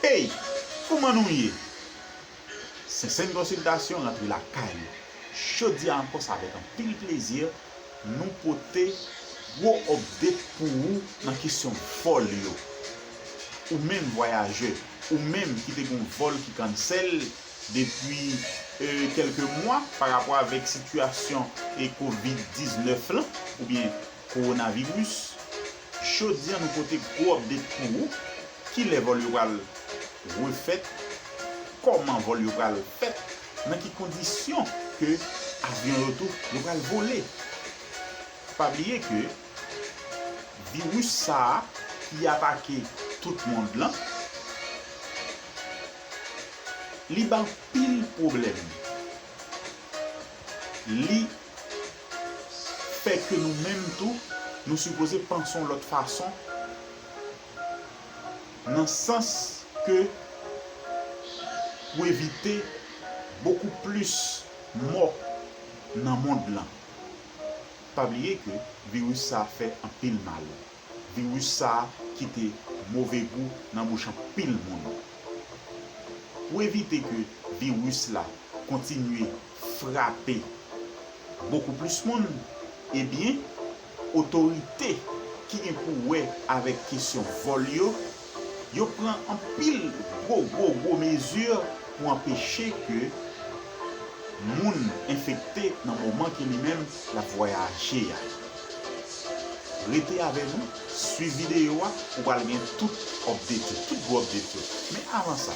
Ey! Kouman nou ye? Sentsèn Konsiltasyon rantre lakay nou. Jodi a ankò se avèk anpil plezi nou pote gwo update pou ou nan kesyon vòl yo. Ou menm vwayajè, ou menm ki te gen yon vòl ki cancel depi kelke mwa pa rapò avèk sitiyasyon covid 19 lan oubyen Coronavirus, Jodi an nou pote gwo update pou ou, kilè vòl yo pral refèt, kòman vòl yo pral fèt, nan ki kondisyon ke avyon yo tou yo pral vole. Pa bliye ke virus sa a ki atake tout mond lan, li ban pil pwoblèm. Li fè ke nou menm tou, nou sipoze panse yon lòt fason, nan sans ke pou evite bokou plis mò nan mond lan. Pa bliye ke viris sa fè anpil mal. Virus sa kite move gou nan bouch anpil moun. Pou evite ke virus la kontinye frape bokou plis moun, ebyen otorite ki gen pou wè avèk kesyon vòl yo Yo pran anpil gwo gwo gwo mezi pou anpeche ke moun enfekte nan moman ke li menm l ap vwayaje a. Rete avè nou, swiv videyo a, ou pral gen tout update yo, tout gwo update yo. Men avan sa,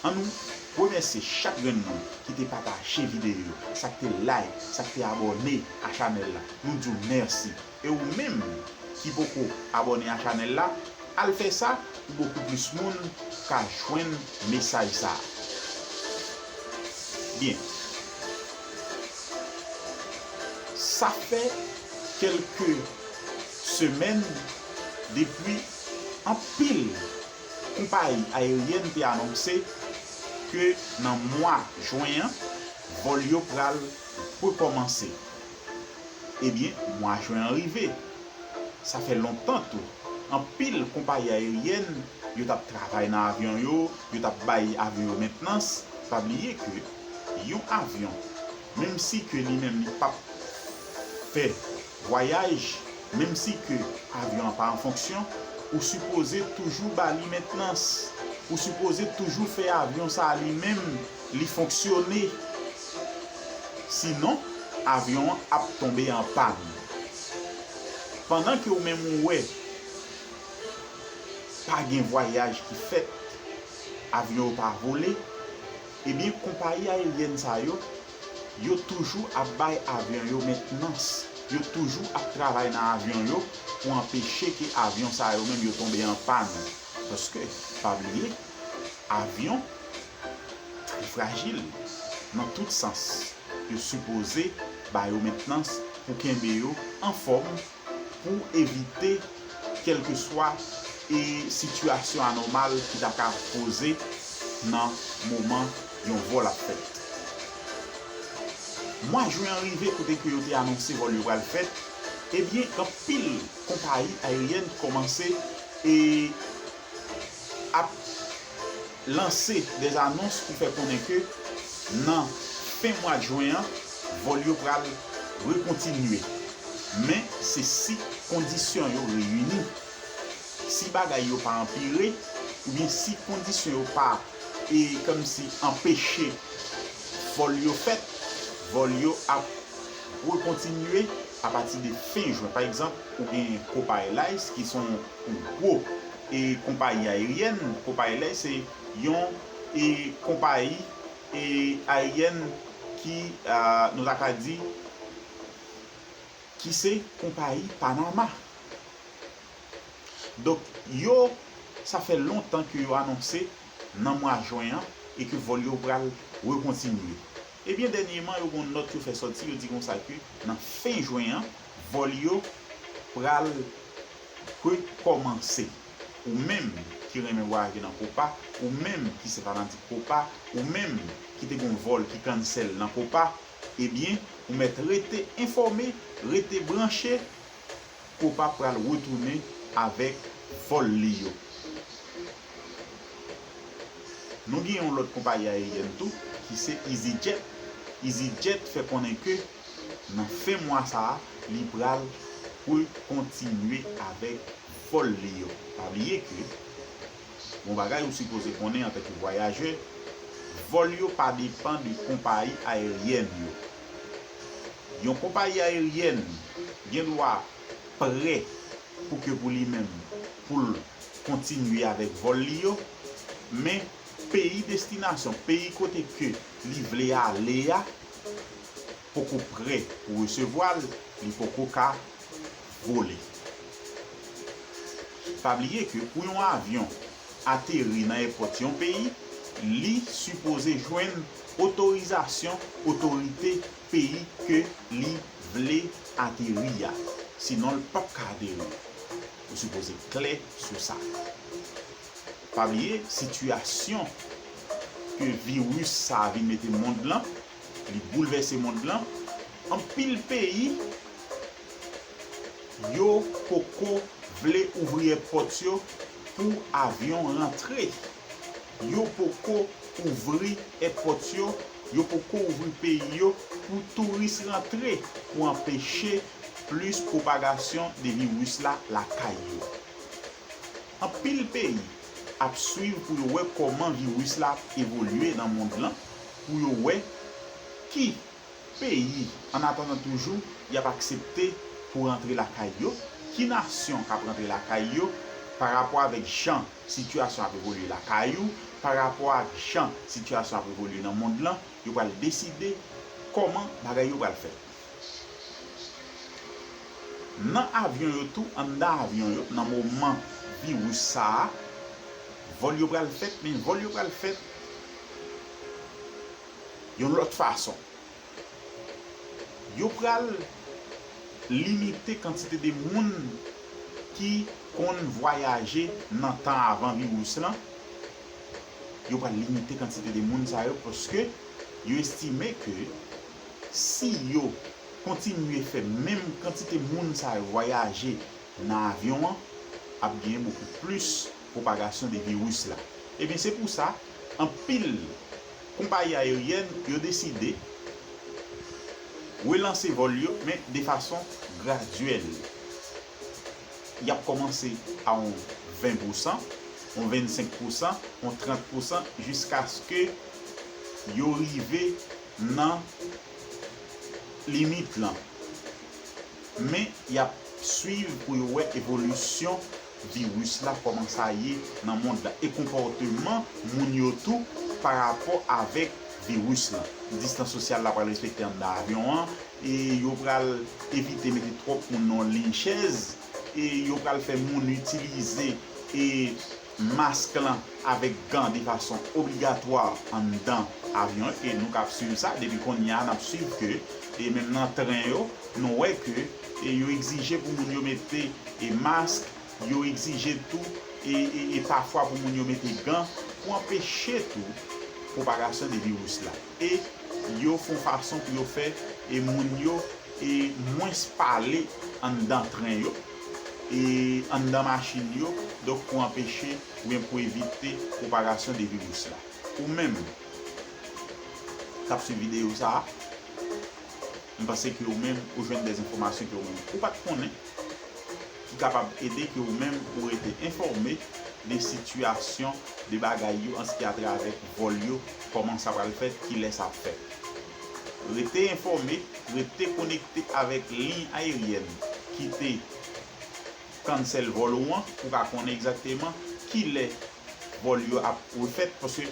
an nou remèsye chak grenn moun ki te pataje videyo yo, sa k te like, sa k te abòne a chanèl la, nou di w mèsi. E ou menm ki poko abone a chanel la al fè sa pou bokou plis moun ka jwenn mesaj sa byen sa fè kelke semèn depwi anpil konpayi ayeryèn te anonse ke nan mwa jwen an vòl yo pral rekomanse. Ebyen, mwa Jwen an rive. Sa fè lontan tou, anpil konpayi ayeryèn yo t ap travay nan avyon yo, yo t ap bay avyon yo mentnans. Pa bliye ke yon avyon, menm si ke li menm li p ap fè vwayaj, menm si ke avyon an pa an fonksyon, ou sipoze toujou ba li mentnans. Ou sipoze toujou fè avyon sa a li menm li fonksyone. Sinon, avyon an ap tonbe an pàn. Pandan ke ou menm ou wè pa gen vwayaj ki fèt, avyon yo pa vole, ebyen konpayi ayeryèn sa yo, yo toujou ap bay avyon yo mentnans, yo toujou ap travay nan avyon yo pou anpeche ke avyon sa yo menm yo tonbe an pàn. Paske, pa bliye, avyon. Yo frajil nan tout sans. Yo sipoze ba yo mentnans pou kenbe yo anfòm pou evite kèlkeswa e sitiyasyon anòmal ki ta ka poze nan moman yon vòl ap fèt. Mwa jwen an rive kote ke yo te anonse vòl yo pral fèt, ebyen anpil konpayi ayeryèn kòmanse e ap. lanse des anons pou fè konnen ke nan fen mwad jwen an vòl yo pral rekontinye men se si kondisyon yo reyini. Si bagay yo pa anpire oubyen si kondisyon yo pa e kòmsi anpeche vòl yo fèt, vòl yo ap rekontinye apati de fen jwen. Pa egzanp, ou gen Copa Airlines ki son gwo. Konpayi ayeryèn Copilot se yon konpayi ayeryèn ki nou ta ka di ki se konpayi Panama. Donk yo sa fè lontan ke yo anonse nan mwa jwen an e ke vòl yo pral rekontinye. Ebyen dènyeman yo gen yon nòt yo fè sòti yo di konsa ke nan fen jwen an vòl yo pral Prank kòmanse Ou menm ki renmen vwayaje nan Copa Ou menm ki se fanatik Copa Ou menm ki te gon vòl ki cancel nan Copa Ebyen ou mèt rete enfòme Rete branche Copa pral retounen avèk vòl li yo Nou gen yon lòt konpayi ayeryen tou ki se Easyjet Easyjet fè konnen ke. nan fen mwa sa a li pral poul kontinye avèk vòl li yo pa bliye ke yon bagay ou sipoze konnen antanke vwayajè vòl yo pa depan de konpayi ayeryèn yo yon konpayi ayeryèn gen dwa prè pou ke pou li menm poul kontinye avèk vòl li yo men peyi destinasyon peyi kote ke li vle ale a. poko prè pou resevwa l li poko ka vole pa bliye ke pou yon avyon ateri nan èpòt yon peyi li sipoze jwenn otorizasyon otorite peyi ke li vle ateri a sinon l pap ka ateri ou sipoze klè sou sa. Pa bliye sitiyasyon ke viris sa a vin mete mond lan, li boulvèse mond lan, anpil peyi yo poko vle ouvri èpòt yo pou avyon rantre, yo poko ouvri èpòt yo, yo poko ouvri peyi yo pou touris rantre pou anpeche plis pwopagasyon de viris la lakay yo. Anpil peyi ap swiv pou yo wè kòman viris la ap evolye nan mond lan pou yo wè ki peyi an atandan toujou y ap aksepte pou rantre lakay yo, ki nasyon k ap rantre lakay yo pa rapò avèk jan sitiyasyon ap evolye lakay ou, pa rapò ak jan sitiyasyon ap evolye nan mond lan, yo pral deside kòman bagay yo pral fèt. Nan avyon yo tou anndan avyon yo nan moman viris sa a vòl yo pral fèt men vòl yo pral fèt yon lòt fason yo pral limite kantite de moun ki konn vwayaje nan tan avan viris lan yo pral limite kantite de moun sa yo paske yo estime ke K si yo kontinye fè menm kantite moun sa yo vwayaje nan avyon an, ap genyen bokou plis pwopagasyon de viris la. Ebyen se pou sa, anpil konpayi ayeryèn yo deside relanse vòl yo men de fason gradyèl. Y ap kòmanse a on 20 pousan, on 25 pousan, on 30 pousan jiskaske yo rive. nan limit lan. Men y ap swiv pou yo wè evolisyon viris la kòman sa ye nan mond la e konpòteman moun yo tou pa rapò avèk viris lan. Distans sosyal la pral respekte anndan avyon an e yo pral evite mete twòp moun nan yon liy chèz e yo pral fè moun itilize mask lan avèk gan de fason obligatwa anndan avyon an e nou kap swiv sa depi kounye a nap swiv ke e menm nan tren yo nou wè ke e yo egzije pou moun yo mete e mask yo egzije tou e e pafwa pou moun yo mete gan pou anpeche tou pwopagasyon de viris la. e yo fon fason pou yo fè e moun yo e mwens pale anndan tren yo e anndan machin yo donk pou anpeche ou byen pou evite pwopagasyon de viris la ou menm kap swiv video sa a. M panse ke ou menm ou jwenn dè enfòmasyon ke ou menm ou pat konnen ki kapab ede ke ou menm ou rete enfòme de sitiyasyon de bagay yo anski a tra vè vòl yo kòman sa pral fèt kilè sa ap fèt. Rete enfòme, rete konekte avèk liy ayeryèn ki te cancel vòl ou an pou ka konnen egzakteman kilè vòl yo ap refèt paske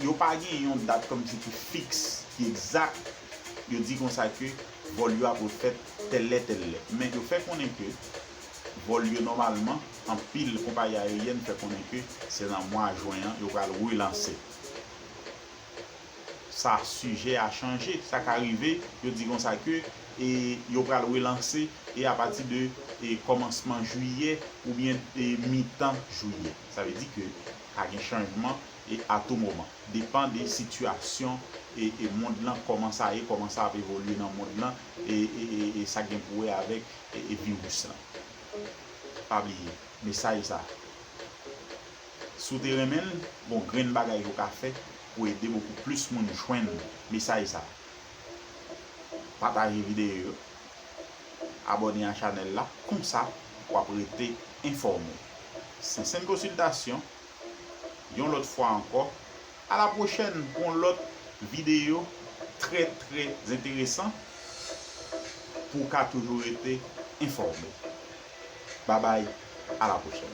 yo pa gen yon dat kòm si ki fiks, ki egzak, yo di konsa ke vòl yo ap refèt tèl lè tèl lè. Men yo fè konnen ke vòl yo nòmalman, anpil konpayi ayeryèn fè konnen ke se nan mwa jwen an yo pral relanse sa. Sijè a chanje, sa ka rive yo di konsa ke e yo pral relanse e apati de e kòmansman jiyè oubyen e mitan jiyè. Sa vle di ke ka gen chanjman. e a tou moman. Depan de sitiyasyon e e mond lan kòman sa ye, kòman sa ap evolye nan mond lan e e e e sa gen pou wè avèk e e viris lan. Pa bliye mesaj sa. Si w te renmen l, gon grenn bagay ou ka fè pou ede bokou plis moun jwenn mesaj sa. Pataje videyo yo, abòne a chanèl la konsa w ap rete enfòme. Sensenn konsiltasyon yon lòt fwa ankò a la pwochèn pou yon lòt videyo trè trè enteresan pou w ka toujou rete enfòme babay a la pwochèn.